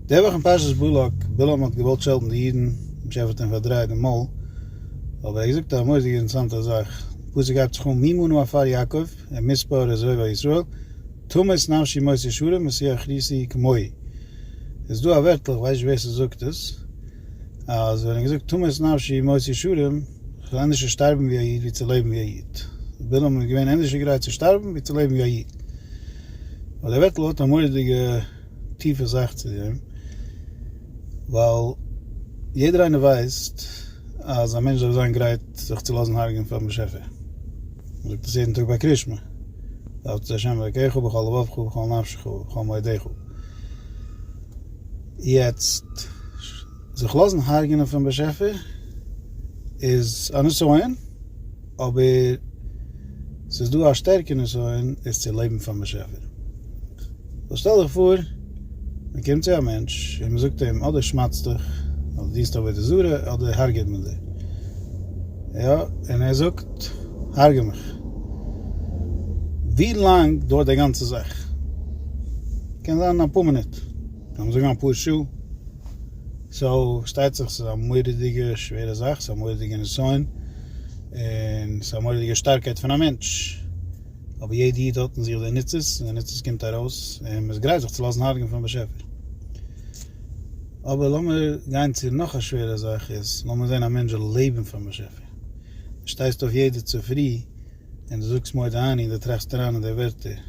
די וואך אין פרשת בלק, בלעם האט געוואלט שעלטן די אידן, משה האט אים פארדרייט די מויל, אבער ער האט געזאגט א מורא'דיגע אינטערעסאנטע זאך, די פסוק הייבט זיך אן מי מנו עפר יעקב, אין מספר איז רבע ישראל, תמות נפשי מות ישרים ושיח ריסי כמוהי. איז דא א ווערטל, איך ווייס נישט ווער ס'זאגט עס, אז ווען ער האט געזאגט תמות נפשי מות ישרים, כ'וועל ענדערשער שטארבן ווי א איד ווי צו לעבן ווי א איד. בלעם איז געווען ענדערשער גרייט צו שטארבן ווי צו לעבן ווי א איד. אבער די ווערטל האט א מורא'דיגע. טיפע זאך צו דעם, ווייל יעדער איינער ווייסט אז א מענטש דארף זיין גרייט זיך צו לאזן הרגען פארן באשעפער. מען זאגט עס יעדן טאג ביי קרישמע, אהבת את ה' אלוקיך בכל לבבך ובכל נפשך ובכל מאודיך. יעצט, זיך לאזן הרגענען פון באשעפער איז א נסיון, אבער ס'איז דא א שטערקע נסיון עס צו לעבן פאר באשעפער. סאו שטעל דיך פאר מען קומט צו א מענטש און מען זאגט אים אדער שמד'סט דיך, אדער דינסט עבודה זרה, אדער הרג'עט מען דיר. יא, און ער זאגט הרג'ע מיך. ווי לאנג דויערט די גאנצע זאך? קען זיין אפאר מינוט, קען מען זאגן אפאר שעה. סאו שטייט זיך ס'איז א מורא'דיגע שווערע זאך, ס'איז א מורא'דיגע נסיון, און ס'איז א מורא'דיגע שטארקייט פון א מענטש, אבער יעדע איד האט אין זיך די ניצוץ, און די ניצוץ קומט ארויס, און מ'איז גרייט זיך צו לאזן הרג'ען פון באשעפער. אבער לאמיר גיין צו נאך א שווערע זאך איז, לאמיר זען א מענטש זאל לעבן פאר'ן באשעפער. דו שטייסט אויף יעדע צופרי. און דו זאגסט מודה אני און דו טראכסט אריין אין די ווערטער,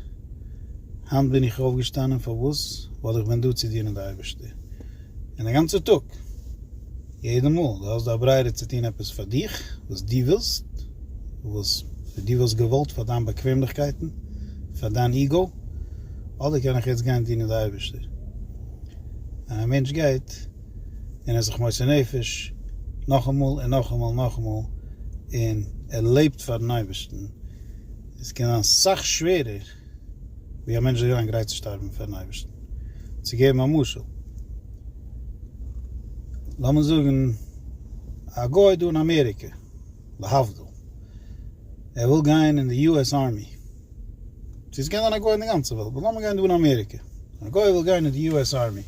היינט בין איך אויפגעשטאנען, פארוואס? ווייל איך בין דא צו דינען די אייבערשטער און א גאנצע טאג, יעדע מאל, דו האסט די הברירה צו טון עפעס פאר דיך, וואס דו ווילסט, וואס דו וואלסט געוואלט פאר דיין באקוועמליכקייטן, פאר דיין איגו, אדער קען איך יעצט גיין דינען די אייבערשטער. ווען א מענטש גייט. און ער זיך מוסר נפש נאכאמאל און נאכאמאל נאכאמאל און ער לעבט פארן אייבערשטן, עס קען זיין סאך שווערער ווי א מענטש זאל זיין גרייט צו שטארבן פארן אייבערשטן. צו געבן א משל, לאמיר זאגן א גוי דא אין אמעריקע, להבדיל, ער וויל גיין אין די US Army, צו עס קען זיין א גוי אין די גאנצע וועלט, באט לאמיר גיין דא אין אמעריקע, א גוי וויל גיין אין די US Army,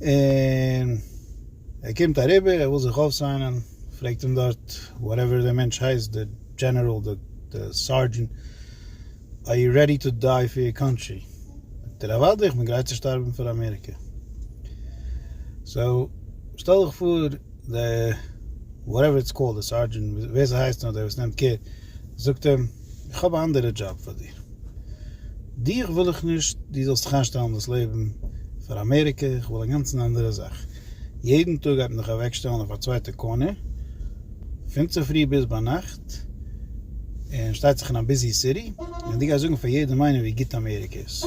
און ער קומט אריבער ער וויל זיך אויפסיינען, פרעגט אים דארט וואטעווער דער מענטש הייסט, דער דזשענעראל דער סארדזשענט, אר יו רעדי טו דיי פאר יור קאנטרי? זאגט ער אוודאי איך בין גרייט צו שטארבן פאר אמעריקע. סאו שטעל דיך פאר דער וואטעווער איטס קאלד דער סארדזשענט ווער ס'הייסט נאר דער וואס נעמט קעיר זאגט אים, איך האב א אנדערע דזשאב פאר דיר. דיך וויל איך נישט דו זאלסט זיך איינשטעלן דאס לעבן פאר אמעריקע, איך וויל א גאנצן אנדערע זאך. יעדן טאג גייט מען דיך אוועקשטעלן אויף א צווייטע קארנער, פון צופרי ביז ביינאכט, און שטייט זיך אין א ביזי סיטי, און דו גייסט זאגן פאר יעדעם איינעם ווי גוט אמעריקע איז.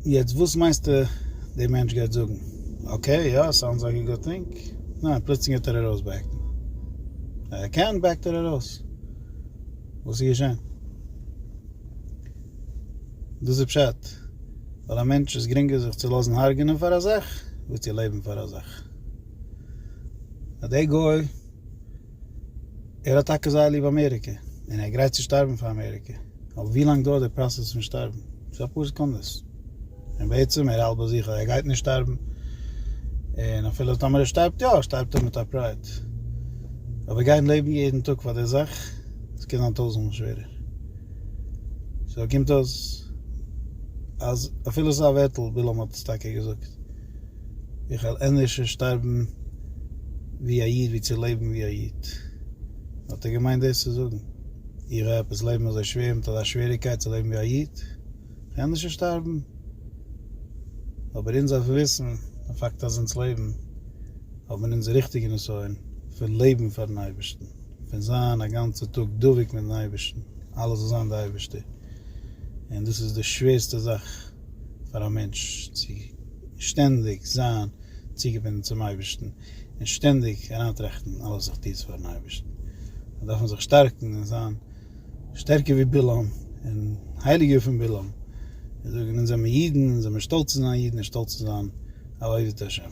יעצט וואס מיינסטו דער מענטש גייט זאגן? אקעי, יא, סאונדס לייק א גוד טינג. ניין, פלוצלינג גייט ער ארויסבעקן. אויב ער קען בעקט ער ארויס. וואס איז געשען? דאס איז פשט, פאר א מענטש איז גרינגער זיך צו לאזן הרג'נען פאר א זאך, ווי צו לעבן פאר א זאך. אז דער גוי, ער האט טאקע זייער ליב אמעריקע, און ער איז גרייט צו שטארבן פאר אמעריקע, אבער ווי לאנג דויערט די פראסעס פון שטארבן? ס'איז אפאר סעקונדעס. און בעצם ער האלט ביי זיך אז ער גייט נישט שטארבן, און אפילו טאמער ער שטארבט יא, שטארבט ער מיט א פרייד. אבער גיין לעבן יעדן טאג פאר די זאך, עס קען זיין טויזנט מאל שווערער. סאו קומט אויס אז אפילו ס'איז א ווערטל, בלעם האט עס טאקע געזאגט, איך וועל ענדערשער שטארבן ווי א איד ווי צו לעבן ווי א איד. האט ער געמיינט דאס צו זאגן? איך וועל עפעס לעבן אזוי שווער מיט אזא שוועריגקייט צו לעבן ווי א איד? די ענדערשע שטארבן, אבער אונז דארף וויסן די פאקט אז אונז לעבן האט מען אונזער ריכטיגע נסיון פון לעבן פארן אייבערשטן, פון זיין א גאנצע טאג דבוק מיטן אייבערשטן, אלעס זאל זיין די אייבערשטער, און דאס איז די שווערסטע זאך פאר א מענטש צו שטענדיג זיין צוגעבינדן צום אייבערשטן און שטענדיג אריינטראכטן אלעס איך טו עס פארן אייבערשטן, דארף מען זיך שטארקן און זיין. שטערקער ווי בלעם און הייליגער פון בלעם, און זאגן אונז זעמער אידן, אונז זעמער שטאלץ צו זיין אידן און שטאלץ צו זיין א עובד השם.